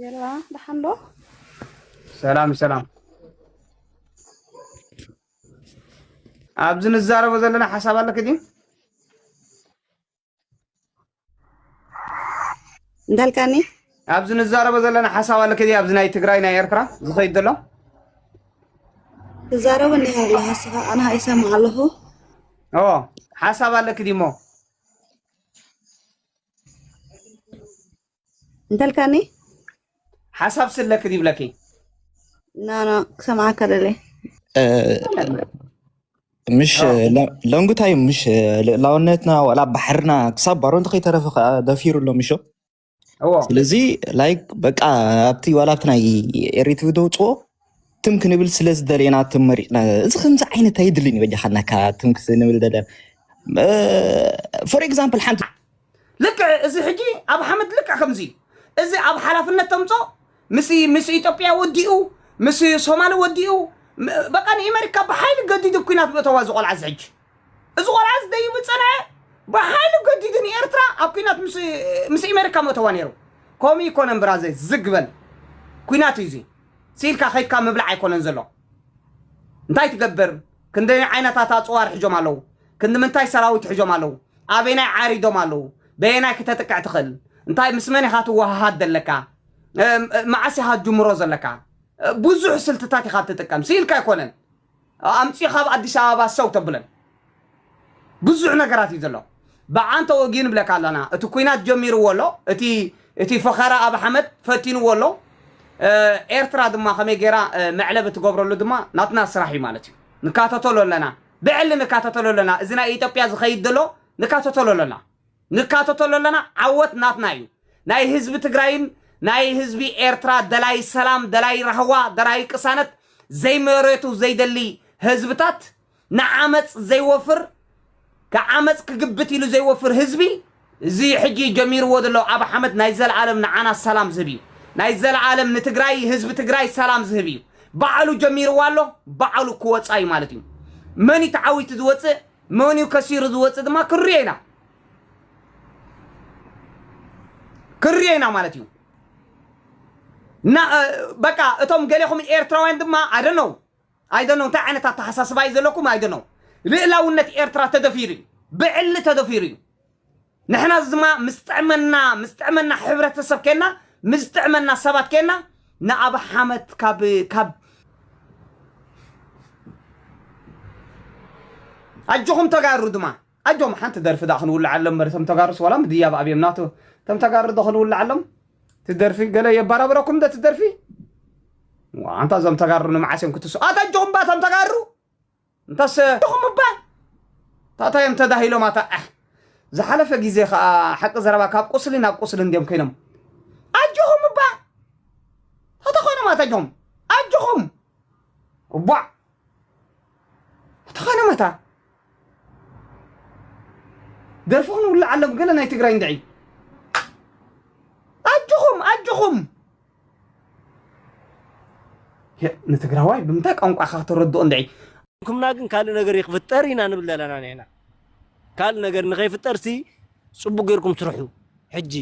ጌራ ደሓን ዶ ሰላም ሰላም ኣብዚ ንዛረቦ ዘለና ሓሳብ ኣለኪ ድዩ እንዳልካኒ ኣብዚ ንዛረቦ ዘለና ሓሳብ ኣለኪ ድዩ ኣብዚ ናይ ትግራይ ናይ ኤርትራ ዝኸይድ ዘሎ ትዛረብ እኒ ያለ ሀሳብ ኣና ይሰማ ኣለኹ ኦ ሓሳብ ኣለኪ ድዩ እሞ እንተልካኒ ሓሳብ ስለክ ይብለኪ ናና ክሰምዓካ ደለ ምሽ ለንጉታይ ምሽ ልእላውነትና ዋላ ባሕርና ክሳብ ባሮ እንተ ከይተረፈ ከዓ ደፊሩ ኣሎ ምሾ ስለዚ ላይክ በቃ ኣብቲ ዋላ ኣብቲ ናይ ኤሪትቪ ደውፅዎ ትም ክንብል ስለ ዝደለና ትም መሪፅና እዚ ከምዚ ዓይነት ኣይድልን እዩ በጃካ ናካ ትም ክንብል ደለ ፎር ኤግዛምፕል ሓንቲ ልክዕ እዚ ሕጂ ኣብ ሓመድ ልክዕ ከምዚ እዩ እዚ ኣብ ሓላፍነት ተምፆ ምስ ምስ ኢትዮጵያ ወዲኡ ምስ ሶማሊ ወዲኡ ም- በቃ ንኤመሪካ ብሓይሊ ገዲዱ ኩናት ምእተዋ እዚ ቆልዓ እዚ ሕጂ እዚ ቆልዓ እዚ ደይቡ ፀንዐ ብሓይሊ ገዲዱ ንኤርትራ ኣብ ኩናት ምስ ምስ ኤመሪካ ምእተዋ ነይሩ ከምኡ ይኮነን ብራዘይ ዝግ በል ኩናት እዩ እዚ ሲኢልካ ከይድካ ምብላዕ ኣይኮነን ዘሎ እንታይ ትገብር ክንደይ ዓይነታት ኣጽዋር ሒዞም ኣለዉ ክንድምንታይ ሰራዊት ሒዞም ኣለዉ ኣበናይ ዓሪዶም ኣለዉ በየናይ ክተጥቅዕ ትኽእል እንታይ ምስ መን ኢኻ ትወሃሃድ ዘለካ መዓስ ኢኻ ትጅምሮ ዘለካ ብዙሕ ስልትታት ኢኻ ትጥቀም ሲኢልካ ኣይኮነን ኣምጺኻ ኣብ ኣዲስ ኣበባ ሰው ተብለን ብዙሕ ነገራት እዩ ዘሎ ብዓን ተወጊኡ ንብለካ ኣለና እቲ ኩናት ጀሚርዎ ኣሎ እቲ እቲ ፈኸራ ኣብ ሓመድ ፈቲንዎ ኣሎ ኤርትራ ድማ ከመይ ጌራ መዕለቢ ትገብረሉ ድማ ናትና ስራሕ እዩ ማለት እዩ ንካተተሎ ኣለና ብዕሊ ንካተተሎ ኣለና እዚ ናይ ኢትዮጵያ ዝኸይድ ዘሎ ንካተተሎ ኣለና ንካተተሉ ኣለና ዓወት ናትና እዩ ናይ ህዝቢ ትግራይን ናይ ህዝቢ ኤርትራ ደላይ ሰላም ደላይ ራህዋ ደራይ ቅሳነት ዘይመሬቱ ዘይደሊ ህዝብታት ንዓመጽ ዘይወፍር ዓመጽ ክግብት ኢሉ ዘይወፍር ህዝቢ እዚ ሕጂ ጀሚርዎ ዘሎ ኣብ ሓመድ ናይ ዘለዓለም ንዓና ሰላም ዝህብ እዩ ናይ ዘለዓለም ንትግራይ ህዝቢ ትግራይ ሰላም ዝህብ እዩ ባዕሉ ጀሚርዋ ኣሎ ባዕሉ ክወጻ እዩ ማለት እዩ መን እዩ ተዓዊቱ ዝወጽእ መንዩ ከሲሩ ዝወፅእ ድማ ክንሪኦ ኢና ክንሪኦ ኢና ማለት እዩ ና- እ፣ በቃ እቶም ገሌኹም ኤርትራውያን ድማ ኣይደነው ኣይደነው እንታይ ዓይነት ኣተሓሳስባ እዩ ዘለኩም ኣይደነው ልእላውነት ኤርትራ ተደፊሩ እዩ ብዕሊ ተደፊሩ እዩ ንሕና ዝማ ምስ ጥዕመና ምስ ጥዕመና ሕብረተሰብ ኴንና ምስ ዝጥዕመና ሰባት ኴንና ንኣብ ሓመት ካብ ካብ ኣጆኹም ተጋሩ ድማ ኣጆም ሓንቲ ደርፊ ዳ ክንውልዓሎም እምበር እቶም ተጋሩስ ዋላ ምድያብ ኣብዮም ናቱ እቶም ተጋሩ ዶ ክንውልዓሎም ትደርፊ ገለ የባራብረኩም ዶ ትደርፊ ኣንታ እዞም ተጋሩ ንመዓስ እዮም ክትሱ ኣታ ኣጆኹም ባቶም ተጋሩ እንታሰ ድኹም እባ ታታ እዮም ተዳሂሎም ኣታ ዓሕ ዝሓለፈ ግዜ ከኣ ሓቂ ዘረባ ካብ ቁስሊ ናብ ቁስሊ እንድዮም ኮይኖም ኣጆኹም እባ ታታ ኮይኖም ኣታ ኣጆኹም ኣጆኹም እቧዕ ተኾይኖም ኣታ ደርፍኹም ይውላዕ ኣሎ ገለ ናይ ትግራይ እንድዒ ኣጆኹም ኣጆኹም ንትግራዋይ ብምንታይ ቋንቋ ኢኻ ከተረድኦ እንድዒ ኩምና ግን ካልእ ነገር ይክፍጠር ኢና ንብል ዘለና ንሕና ካልእ ነገር ንከይፍጠር ሲ ፅቡቅ ጌርኩም ስርሑ ሕጂ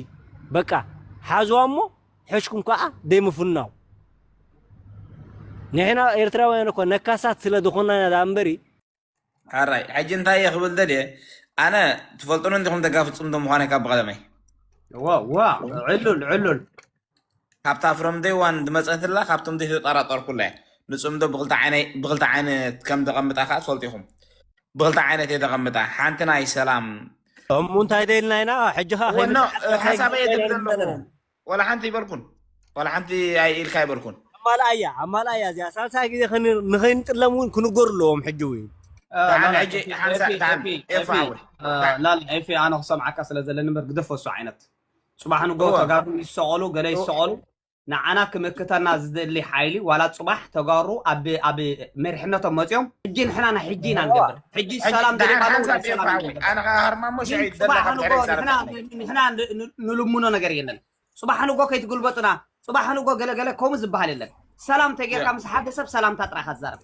በቃ ሓዝዋ እሞ ሕሽኩም ከዓ ደይምፍናው ንሕና ኤርትራውያን እኮ ነካሳት ስለ ዝኾና ኢና እምበሪ ኣራይ ሕጂ እንታይ እየ ክብል ደልየ ኣነ ትፈልጡኒ እንዲኹም ደጋፊ ፅምዶ ምዃነ ካብ ብቐደመይ ዋ ዋ ዕሉል ዕሉል ካብታ ፍሮም ደይ ዋን ዝመፀትላ ካብቶም ደይ ተጠራጠርኩላ እየ ንፅምዶ ብክልተ ዓይነ ብክልተ ዓይነት ከም ተቐምጣ ከዓ ትፈልጡ ኢኹም ብክልተ ዓይነት እየ ተቐምጣ ሓንቲ ናይ ሰላም እሙ እንታይ ደልና ኢና ሕጂ ከዓ ወኖ ሓሳበይ እየ ዝብል ዘለኹ ዋላ ሓንቲ ኣይበልኩን ዋላ ሓንቲ ኣይ ኢልካ ኣይበልኩን። ኣማልኣያ ኣማልኣያ እዚኣ ሳልሳይ ግዜ ንኸይንጥለም እውን ክንገሩ ኣለዎም ሕጂ እውን ደሓን ላላ ሕጂ ኤፊ ሓንሳ ኤፊ ደሓን ኤፊ ኤፋ ኤፊ ሓወይ እ፣ ደሓን ላላ ኤፊ ኣነ ክሰምዓካ ስለ ዘለኒ እምበር ግደፎ እሱ ዓይነት ጽባሕ ንግሆ እወ ተጋሩ ይሰቐሉ ገለ እወ ይሰቐሉ ንዓና ክምክተና ዝደሊ ሓይሊ ዋላ ጽባሕ ተጋሩ ኣብ ኣብ መሪሕነቶም መጺኦም ሕጂ ንሕና ናይ ሕጂ ኢና ንገብር ሕጂ ሰላም ደሊኻ ዶ ሰላም ይደለ ኣነ ከዓ ሃርማሞ ግን ሸዒት ደላ ጽባሕ ካብ ንጎ ድሕሪ ንሕና ዛረበ ን- ንሕና ን- ን- ንልምኖ ነገር የለን ጽባሕ ንጎ ከይትግልበጡና ጽባሕ ንጎ ገለገለ ከምኡ ዝበሃል የለን ሰላም ተጌርካ ምስ ሓደ ሰብ ሰላምታ ጥራይ ኢኻ ትዛረብ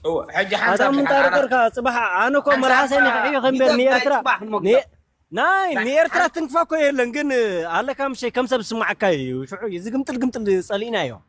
እወ ሕጂ ኣታ ሓንሳብ ሽሓን ምንታይ ኣና ነገርካ ፅባሕ ኣነ እኮ ሓንሳብ መርሃሰይ እኳ ንክዕዮ ከም በል ንገዛይ ንኤርትራ ጽባሕ ን- ንመግዛእ ናይ ናይ ንኤርትራ ሓን ትንክፋ እኮ የለን ግን ኣለካ ምሸይ ከም ሰብ ዝስማዓካ እዩ ሽዑ እዩ እዚ ግምጥል ግምጥል ፀሊእናዮ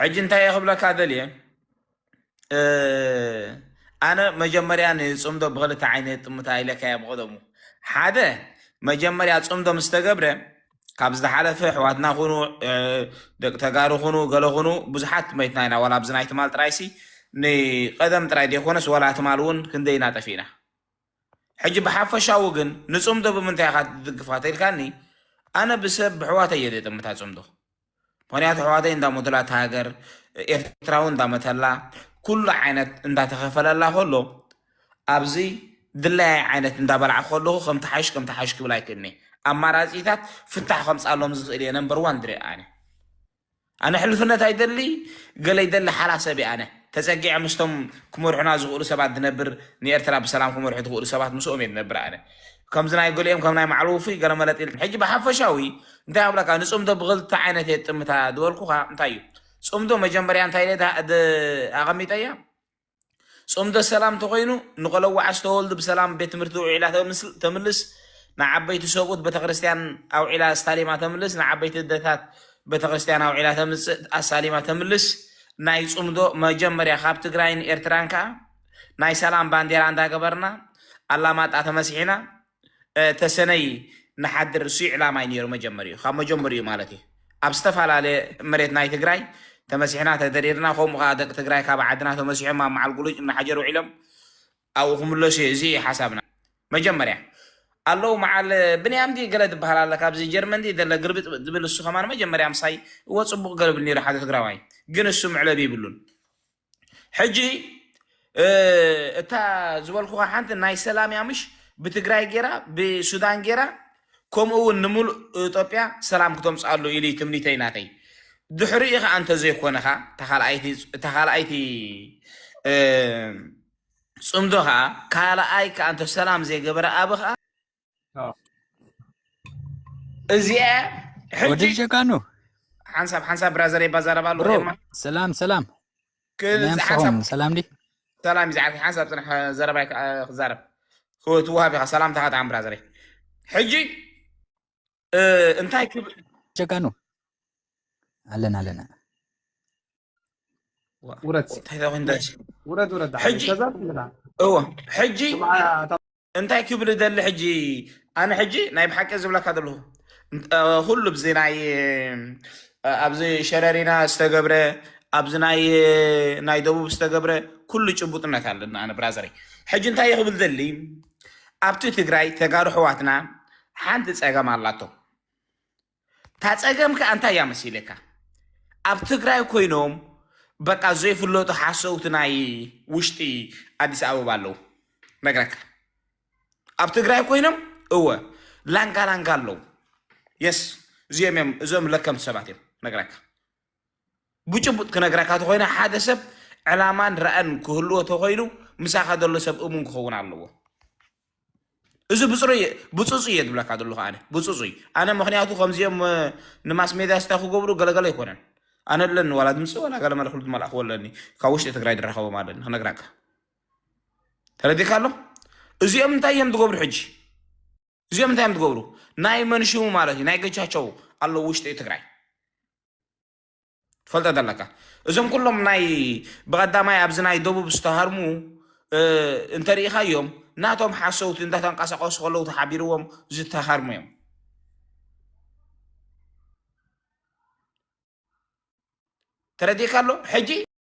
ሕጂ እንታይ እየ ክብለካ ደልየ ኣነ መጀመርያ ንፅምዶ ብክልተ ዓይነት ጥምታ ኢለካያ ብቀደሙ ሓደ መጀመርያ ፅምዶ ምስ ተገብረ ካብ ዝተሓለፈ ኣሕዋትና ኩኑ ደቂ ተጋሩ ኩኑ ገለ ኩኑ ብዙሓት መይትና ኢና ዋላ ኣብዚ ናይ ትማል ጥራይሲ ንቀደም ጥራይ ዘይኮነስ ዋላ ትማል እውን ክንደይ ኢና ጠፊእና ሕጂ ብሓፈሻዊ ግን ንጽምዶ ብምንታይ ኢኻ ትድግፋ ተልካኒ ኣነ ብሰብ ብሕዋተይ እየ ዘይጥምታ ጽምዶ ምክንያቱ ሕዋተይ እንዳሞተላ እታ ሃገር ኤርትራ እውን እንዳመተላ ኩሉ ዓይነት እንዳተኸፈለላ ከሎ ኣብዚ ድላያይ ዓይነት እንዳበላዕ ከለኹ ከም ተሓይሽ ከም ተሓይሽ ክብል ኣይክእልኒ ኣማራጺታት ፍታሕ ከምጻሎም ዝኽእል እየ ነምበር ዋን ድሬ ኣነ ኣነ ሕልፍነት ኣይደሊ ገለ ይደሊ ሓራ ሰብ እየ ኣነ ተፀጊዐ ምስቶም ክመርሑና ዝኽእሉ ሰባት ድነብር ንኤርትራ ብሰላም ክመርሑ ዝኽእሉ ሰባት ምስኦም እየ ድነብር ኣነ ከምዚ ናይ ገሊኦም ከም ናይ ማዕሉ ውፉይ ገለ መለጥ ኢል ሕጂ ብሓፈሻዊ እንታይ ኣብለካ ንፅምዶ ብክልተ ዓይነት እየ ጥምታ ዝበልኩኻ እንታይ እዩ ፅምዶ መጀመርያ እንታይ ኢለ ኣቐሚጠያ ጽምዶ ሰላም እንተኾይኑ ንቆለዋዕ ዝተወልዱ ብሰላም ቤት ትምህርቲ ውዒላ ተምልስ ንዓበይቲ ሰብኡት ቤተክርስትያን ኣውዒላ ኣስታሊማ ተምልስ ንዓበይቲ እደታት ቤተክርስትያን ኣውዒላ ተምጽእ ኣሳሊማ ተምልስ ናይ ጽምዶ መጀመርያ ካብ ትግራይን ኤርትራን ከኣ ናይ ሰላም ባንዴራ እንዳገበርና ኣላማጣ ተመሲሒና ተሰነይ ንሓድር እሱ ይዕላማይ ነይሩ መጀመሪኡ ካብ መጀመሪኡ ማለት እዩ ኣብ ዝተፋላለ መሬት ናይ ትግራይ ተመሲሕና ተደሪርና ከምኡ ከኣ ደቂ ትግራይ ካብ ዓድና ተመሲሖም ኣብ መዓል ጉሉጭ እናሓጀር ውዒሎም ኣብኡ ክምለሱ እዩ እዚ ሓሳብና መጀመርያ ኣለዉ መዓል ብንያም ዲ ገለ ዝበሃል ኣለ ካብዚ ጀርመን ዲ ዘለ ግርብጥ ዝብል እሱ ከማን መጀመርያ ምሳይ እወ ጽቡቕ ገርብል ነይሩ ሓደ ትግራዋይ ግን እሱ ምዕለብ ይብሉን ሕጂ እታ ዝበልኩኻ ሓንቲ ናይ ሰላም እያ ምሽ ብትግራይ ጌራ ብሱዳን ጌራ ከምኡ እውን ንምሉእ ኢትዮጵያ ሰላም ክተምፅኣሉ ኢሉ እዩ ትምኒተይ ናተይ ድሕሪኡ ከዓ እንተዘይኮነኻ እታ ካልኣይቲ ፅምዶ ከዓ ካልኣይ ከዓ እንተ ሰላም ዘይገበረ ኣብ ከዓ እዚኣ ወዲ ጀጋኑ ሓንሳብ ሓንሳብ ብራዘር የባዛረባ ኣለዎ ሰላም ሰላም ሰላም ሰላም ዲ ሰላም ይዛዓት ሓንሳብ ፅናሕ ዘረባ ክዛረብ ክወሃብ ኢኻ ሰላምታ ከጣዕም ብራዘረይ ሕጂ እንታይ ክብል ጀጋኑ ኣለና ኣለና ውረድ ውረድ ውረድ ሕጂ እዎ ሕጂ እንታይ ክብል ደሊ ሕጂ ኣነ ሕጂ ናይ ብሓቂ ዝብለካ ዘለኹ ኩሉ ብዚ ናይ ኣብዚ ሸረሪና ዝተገብረ ኣብዚ ናይ ናይ ደቡብ ዝተገብረ ኩሉ ጭቡጥነት ኣለና ኣነ ብራዘረይ ሕጂ እንታይ ክብል ደሊ ኣብቲ ትግራይ ተጋሩ ሕዋትና ሓንቲ ፀገም ኣላቶም እታ ፀገም ከዓ እንታይ እያ መሲለካ ኣብ ትግራይ ኮይኖም በቃ ዘይፍለጡ ሓሰውቲ ናይ ውሽጢ ኣዲስ ኣበባ ኣለው ነግረካ ኣብ ትግራይ ኮይኖም እወ ላንጋ ላንጋ ኣለው የስ እዚኦም እዮም እዞም ለከምቲ ሰባት እዮም ነግረካ ብጭቡጥ ክነግረካ ተኾይነ ሓደ ሰብ ዕላማን ራእን ክህልዎ ተኾይኑ ምሳኻ ዘሎ ሰብ እሙን ክኸውን ኣለዎ። እዚ ብፅሩይ ብፅፁይ እየ ዝብለካ ዘለኹ ኣነ ብፅፁይ ኣነ ምክንያቱ ከምዚኦም ንማስ ሜድያ ስታ ክገብሩ ገለገለ ኣይኮነን ኣነ ኣለኒ ዋላ ድምፂ ዋላ ገለ መልክሉ ዝመላእክዎ ኣለኒ ካብ ውሽጢ ትግራይ ድረኸቦም ኣለኒ ክነግራካ ተረዲካ ኣሎ እዚኦም እንታይ እዮም ዝገብሩ ሕጂ እዚኦም እንታይ እዮም ዝገብሩ ናይ መንሽሙ ማለት እዩ ናይ ገቻቸው ኣለዎ ውሽጢ ትግራይ ትፈልጦ ዘለካ እዞም ኩሎም ናይ ብቀዳማይ ኣብዚ ናይ ደቡብ ዝተሃርሙ እንተሪኢኻዮም ናቶም ሓሰውቲ እንዳተንቀሳቀሱ ከለዉ ተሓቢርዎም ዝተሃርሙ እዮም ተረዲእካ ኣሎ ሕጂ